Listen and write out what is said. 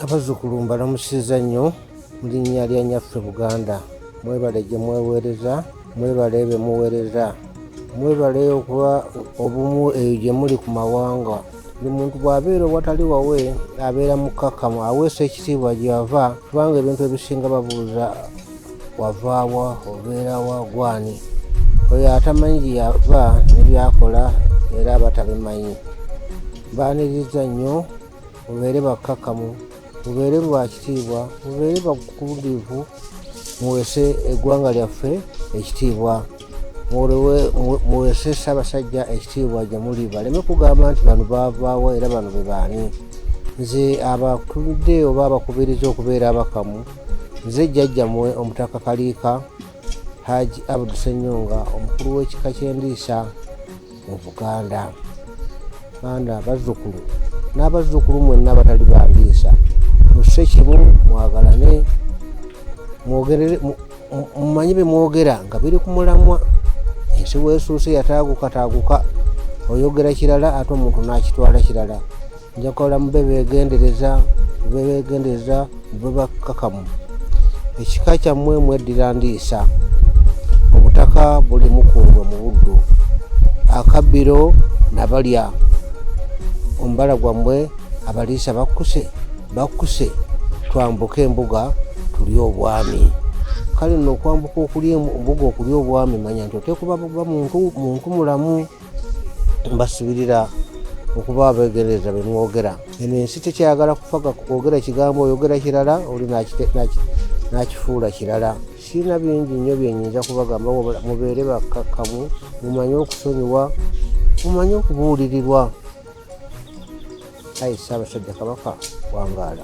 abazzukulu mbalamusiza nnyo mu linnya lya nyaffe buganda mwebale gye mweweereza mwebale be muweereza mwebale okuba obumu eyo gye muli ku mawanga buli muntu bw'abeera owatali wawe abeera mukkakkamu aweesa ekitiibwa gy'ava kubanga ebintu ebisinga babuuza wavaawa obeerawa gwani oyo atamanyi gye yava nebyakola era batabimanyi baaniriza nnyo mubeere bakkakkamu mubeere bwa kitiibwa mubeere bakubudiivu muweese eggwanga lyaffe ekitiibwa muweese ssaabasajja ekitiibwa gye muli baleme kugamba nti bano baavaawa era bano be baani nze abakuludde oba abakubiriza okubeera abakamu nze jjajjamwe omutaka kaliika haji abdu senyonga omukulu w'ekika ky'endiisa mu buganda baana abazzukulu n'abazzukulu mwenna abatali bandiisa musse kimu mwagalane mumanye bye mwogera nga biri ku mulamwa ensi weesuuse yataagukataaguka oyogera kirala ate omuntu n'akitwala kirala njakola mube begendereza mube begendereza mube bakkakamu ekika kyammwe mweddira ndiisa obutaka buli mukungwe mu buddu akabbiro nabalya omubala gwammwe abaliisa bakkuse bakkuse twambuke embuga tulye obwami kale nno okwambuka okulya embuga okulya obwami manya nti oteekuba muntu mulamu mbasubirira okuba abegendereza bemwogera eno ensi tekyayagala kufaga kwogera kigambo oyogera kirala oli nakifuula kirala sirina bingi nnyo byenyinza kubagamba wabula mubeere bakkakkamu mumanye okusonyiwa mumanye okubuulirirwa ayi ssaabasajja kabaka wangaala